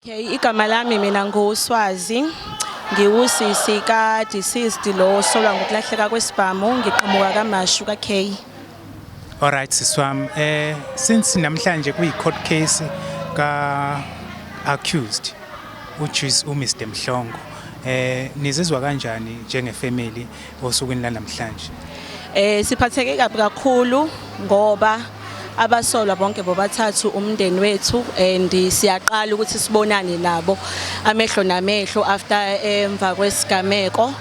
Okay, igama lami mina nguSwazi. Ngiwusisi ka deceased lo solwa ngokulahleka kwesibhamu ngiqhamuka kaMashu ka K. All right siswam eh since namhlanje kuyi court case ka accused which is u Mr Mhlongo eh nizizwa kanjani njenge family osukwini lanamhlanje? Eh siphatheke kabi kakhulu ngoba abasolwa bonke bobathathu umndeni wethu and siyaqala ukuthi sibonane nabo amehlo namehlo after eh, emva kwesigameko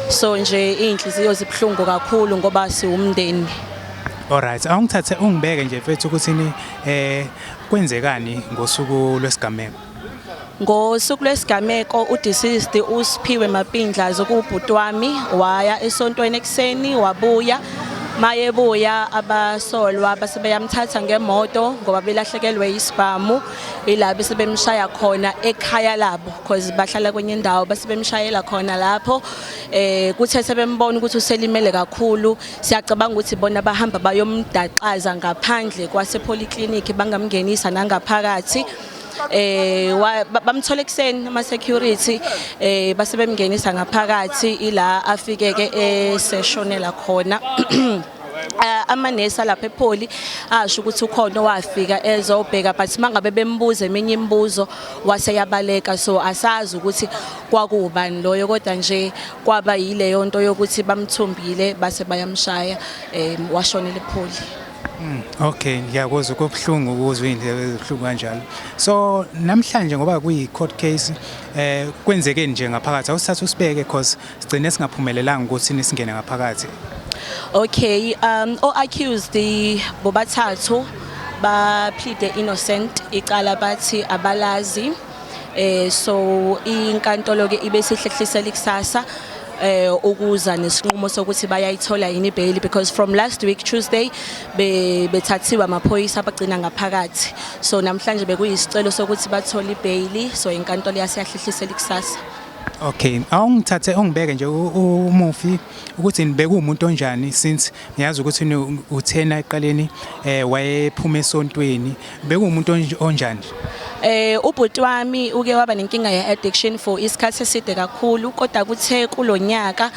so nje inhliziyo zibuhlungu kakhulu ngoba siwumndeni Alright awungithathe ungibeke nje mfethu ukuthi ni eh kwenzekani ngosuku lwesigameko Ngosuku lwesigameko udeceased uSiphiwe Mapindla zokubhuti wami waya esontweni ekuseni wabuya mayebuya abasolwa base beyamthatha ngemoto ngoba belahlekelwe isibhamu ila bese bemshaya khona ekhaya labo because bahlala kwenye indawo base bemshayela khona lapho eh kuthe sebembona ukuthi uselimele kakhulu siyacabanga ukuthi bona bahamba bayomdaxaza ngaphandle kwase polyclinic bangamngenisa nangaphakathi eh bamthola ekuseni ama security eh base bemngenisa ngaphakathi ila afike ke eseshonela eh, khona Eh, amanesi alapha epholi asho ukuthi ukhona owafika ezobheka but mangabe bembuza eminye imibuzo wase yabaleka so asazi ukuthi kwakubani loyo kodwa nje kwaba yileyo nto yokuthi bamthumbile base bayamshaya um washonela epholi Mm, okay ngiyakuzwa kobuhlungu ukuzwa indlela ezihlungu kanjalo so namhlanje ngoba kuyi court case eh kwenzeke nje ngaphakathi awusithatha usibeke because sigcine singaphumelelanga ukuthi nisingene ngaphakathi okay um o accused bobathathu ba plead innocent icala bathi abalazi eh so inkantolo ke ibe sihlehlisela ikusasa eh ukuza nesinqumo sokuthi bayayithola yini bail because from last week Tuesday be bethathiwa amaphoyisa abagcina ngaphakathi so namhlanje bekuyisicelo sokuthi bathole ibail so inkantolo yaseyahlehlisela ikusasa Okay, awungithathe ungibeke nje umufi ukuthi nibeke umuntu onjani since ngiyazi ukuthi uthena eqaleni eh wayephuma esontweni Bekuwumuntu onj- onjani? Eh ubhuti wami uke waba nenkinga ye addiction for isikhathi eside kakhulu kodwa kuthe kulonyaka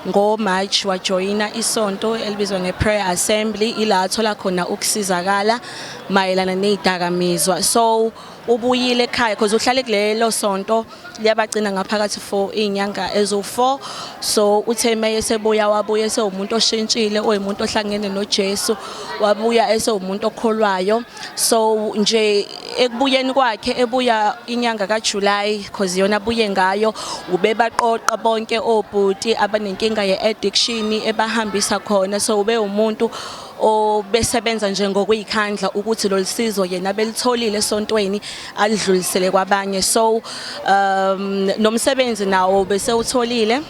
ngo March wajoyina isonto elibizwa nge prayer assembly ila athola khona ukusizakala mayelana nezidakamizwa so ubuyile ekhaya because uhlale kulelo sonto liyabagcina ngaphakathi for iy'nyanga eziwu-four so uthe uma esebuya wabuya esewumuntu oshintshile oyimuntu ohlangene nojesu wabuya esewumuntu okholwayo so nje ekubuyeni kwakhe ebuya inyanga kajulayi cause yona abuye ngayo ubebaqoqa bonke obhuti abanenkinga ye-addiction ebahambisa khona so ube umuntu obesebenza nje ngokuyikhandla ukuthi lolusizo yena belitholile esontweni alidlulisele kwabanye so um nomsebenzi nawo bese utholile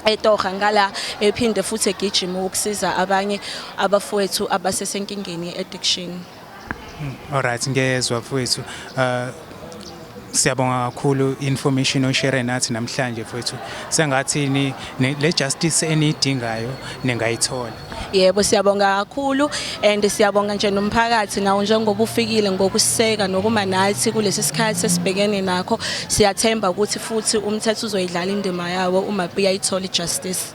etoha ngala ephinde futhi egijima ukusiza abanye abafowethu abasesenkingeni addiction Alright ngiyezwa mfowethu. Uh siyabonga kakhulu information oshare nathi namhlanje mfowethu. Sengathi ni le justice enidingayo ningayithola. Yebo siyabonga kakhulu and siyabonga nje nomphakathi nawo njengoba ufikile ngokuseka nokuma nathi kulesi sikhathi esibhekene nakho. Siyathemba ukuthi futhi umthetho uzoyidlala indima yawo uma buyayithola justice.